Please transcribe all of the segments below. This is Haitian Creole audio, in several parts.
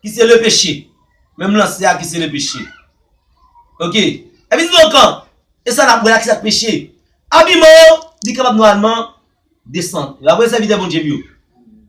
Ki se le peche. Menm lanse a ki se le peche. Ok. Epi di nou kan. E sa nap wè la ki sak peche. Abiman an li kapab nòalman desan. E apre sèvitè Bondye m yo.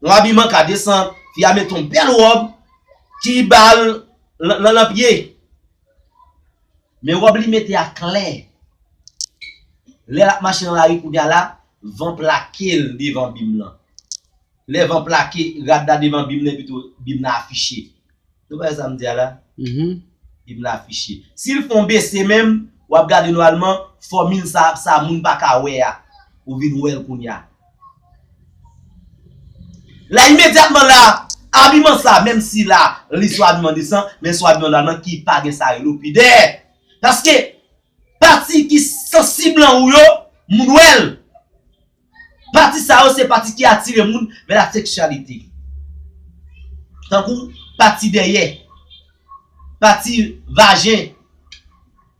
Yon abiman ka desan. Fi a mete yon bèl wòb. Ki bal lan lan pye. Men wòb li mete a klè. Lè lap mache nan lari kounye a la. Van plake l devan bim lan. Lè van plake rad la devan bim nan epito bim nan afiche. Nou bay sa m di a la? Bim nan afiche. Si l fon bese menm, w ap gade nòalman fòmil sa ap sa moun pa ka wè a, ou vin wè l kounya. La imedyatman la, abiman sa, menm si la li sou abiman desan, men sou abiman nòalman ki pa gen sa rele w pidè. Paske, pati ki sansib lan ou yo, moun wè l. Pati sa yo se pati ki atire moun vè la seksyalite. Tankou pati dèyè, pati vajen,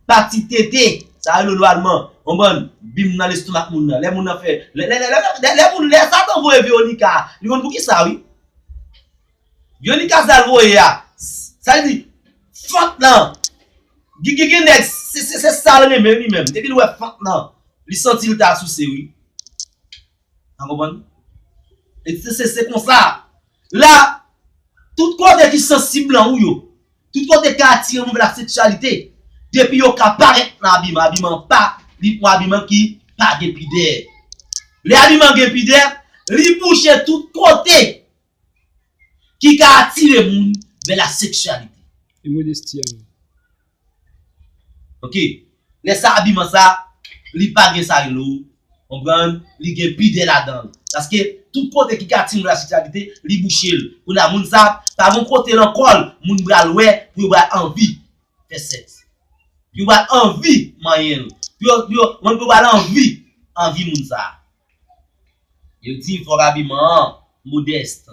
pati tete, sa rele lo alman, konprann, bim nan lestomak moun nan. Lè moun nan fè, lè moun, lè satan voye Veronica a, li konn pou kisa wi. Yoli kazal voye a sa li di fant lan gigi gen nèg se sal renmen li menm depi li wè fant lan li santi li ta souse wi nan konprann e se se konsa la tout kote ki sansib lan ou yo tout kote ki atire moun vè la seksyalite depi yo ka parèt nan abiman abiman pa li pou abiman ki pa gen pidè lè abiman gen pidè li bouche tout kote. ki ka atire moun vè la seksyalite. E modesti a menm? Ok, lè sa abiman sa, li pa gen sa rele ou konprann, li gen pidè ladan l. Paske tout kote ki ka atire moun vè la seksyalite, li bouche l. Kounye a moun sa, pa gen kote nan kò l moun pral wè pou yo pral anvi fè sèks. Pou yo pral anvi manyen l. Pou yo, pou yo, pou yo pral anvi, anvi moun sa. Yo di fòk abiman an modèst,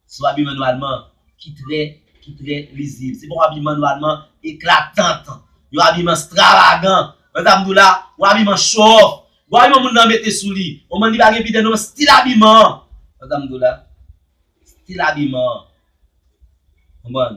se yon abiman nòmalman ki trè, ki trè lizib. Se pa yon abiman nòmalman eklatant, yon abiman stravagan. Wè sa m di w la? Yon abiman show off. Bon abiman moun nan mete sou li, bon bann li pa gen pidè non, stil abiman an. Wè sa m di w la? Stil abiman an. Konprann?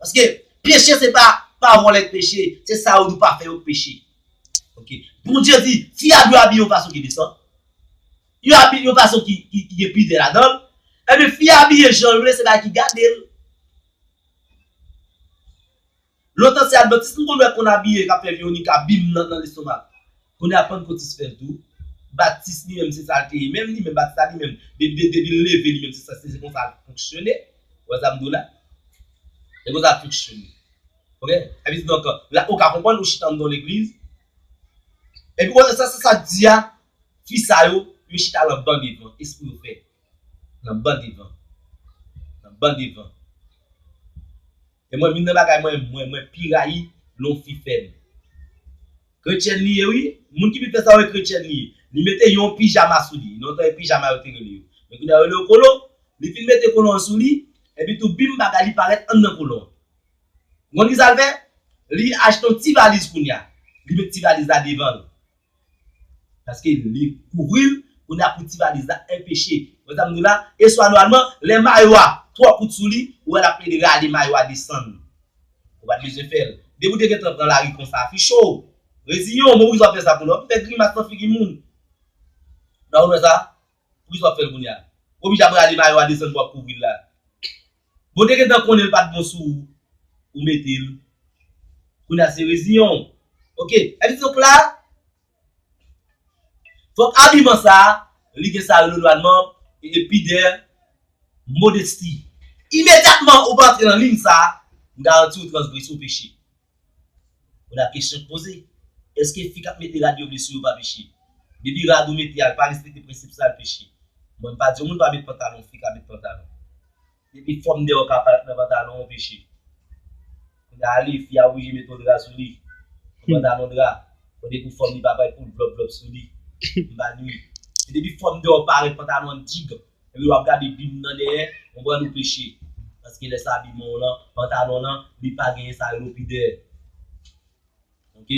Paske peche se pa pa vòlè k peche, se sa yo di w pa fè yo k peche. Ok. Bondye di fi a dwe abiye yon fason ki desan, yon abi yon fason ki gen pidè ladan l. Ebyen fi a abiye jan l vle se bagay ki gade l. Lontan se advantis nou konn wè konn abiye k ap fè Veronica bim nan lestomak. Kounye a Pantkotist fè l tou. Batis li menm se sa l te ye menm. Li menm Batis la li menm depi l leve li menm se sa l te ye. Se konsa l fonksyone. Ou wè sa m di w la? Se konsa l fonksyone. Ok? Sa vle di donk la ou ka konprann ou chita anndan yon legliz epi wè sa sa k di a fi sa yo yo chita lan ban devan. E se pou yo fè. Lan ban devan. Lan ban devan. E mwen youn nan bagay mwen mwen pi rayi lè yon fi fè li. Kretyèn li ye wi, moun ki vin fè sa yo kretyèn li ye. Li mete yon pijama sou li, lontan e pijama yo te rele yo. Men kounye a yo rele yo kolon. Li fin mete kolon an sou li, epi tou bim bagay li parèt anndan kolon an. Ou konn ki sa l fè? Li achte yon ti valiz kounye a. Li met ti valiz la devan l. Paske li kouvri l, kounye a pou ti valiz la enpeche. Wè sa m di w la? E swa nòmalman, lè mayo a twò kout sou li, ou wè l ap plede rale mayo a desann. Ou pa t bezwen fè l. Depi w te gentan pran lari konsa, fichó! Reziyen w, men poukisa w ap fè sa kounye a? W ap fè grimas nan figi moun. Sa w wè sa? Poukisa wap fèl kounya. Obij ap rale mayo a desann pou wap kouvril la. Bon te gentan konnen l pat bon sou ou ou metel kounya se reziyenw ok epi se ok la fòk abiman sa li gen sa leloanman e pidè modesti. Imedyatman ou pa antre nan ligne sa, m garantiw transgrese ou peche. Ou la kesyon k poze. Eske fi kap mete rad yo vle sou yo pa peche? Depi rad ou mete a l pa respekte prensip sa l peche? Mwen pa di yon moun pa met pantalon, fi ka met pantalon. Depi fòm deyò ka parèt nan pantalon an peche. Kounye a li, fi a oblije mete yon dra sou li. Yon pantalon dra. Bon depi fòm li pa parèt poul vlòp vlòp sou li. M pa di wi. Men depi fòm deyò parèt pantalon an t digan. Ebyen wap gade bim nan dèyè ou pran nou peche paske lè sa bimon w lan pantalon lan li pa genyen sa relo pidè ok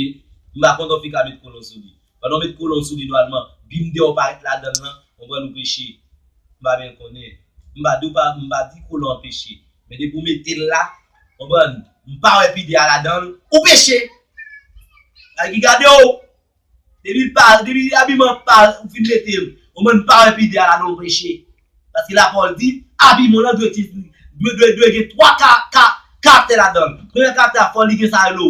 m pa kontan w fika met kolon sou li pandan w met kolon w sou li nwalman bim deyò parèt ladanl lan ou pran nou peche m pa byen konnen m pa di w pa m pa di kolon an peche men depi w metel la konprann m pa wè pidè a ladanl ou peche gade ki gade w. Depi pa depi abiman pa ou fin mete l ou menm pa wè pide a la non preche paske lapawòl di abiman lan dwe ti dwe dwe dwe gen 3 ka ka karaktè ladann premyè karaktè a fò li gen sa yo lo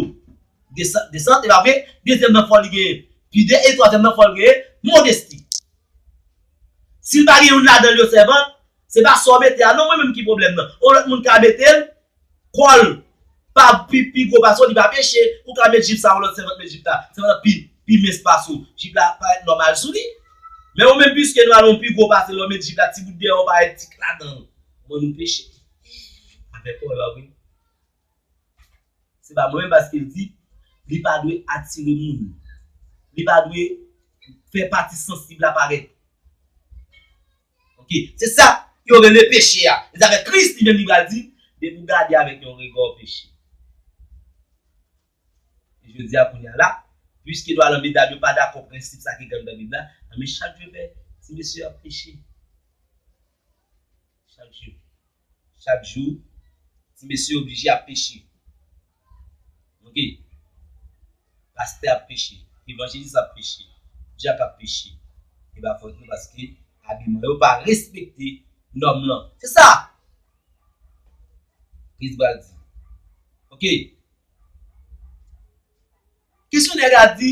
desan desant epa vre dezyèm nan fò li gen pide e twazyèm nan fò l gen modesti si l pa gen youn ladan l yo sèvant se pa sa w mete a non mwen menm ki pwoblèm nan ou lòt moun ka mete l Kòl pa pi pi gwo pase w li pa peche ou ka met jip sa ou lòt sèvant met jip la sèvant la pi pi mens pase w jip la parèt nòmal sou li men ou menm piske nou al on pi gwo pase lè w met jip la ti bout dèyè w parèt ti kla dan w bon nou peche avèk kòl la wi se pa mwen menm paske l di li pa dwe atire moun li pa dwe fè pati sansib la parèt. Ok. Se sa yo rele peche a. E zafè Kris li menm li pral di, depi w gade avèk yon rega w peche. E jodi a kounye a la, piske dwa lanbi dam yo pa dakò prensip sa ki gangan Bib la, anben chak jou fè ti mesye yo ap peche. Chak jou. Chak jou ti mesye yo oblije ap peche. Ok. Pastè ap peche, evanjelis ap peche, dyak ap peche. E pa fòt nou paske abiman yo pa respekte nòm lan. Se sa! Kris pral di. Ok. Kesyonè a di.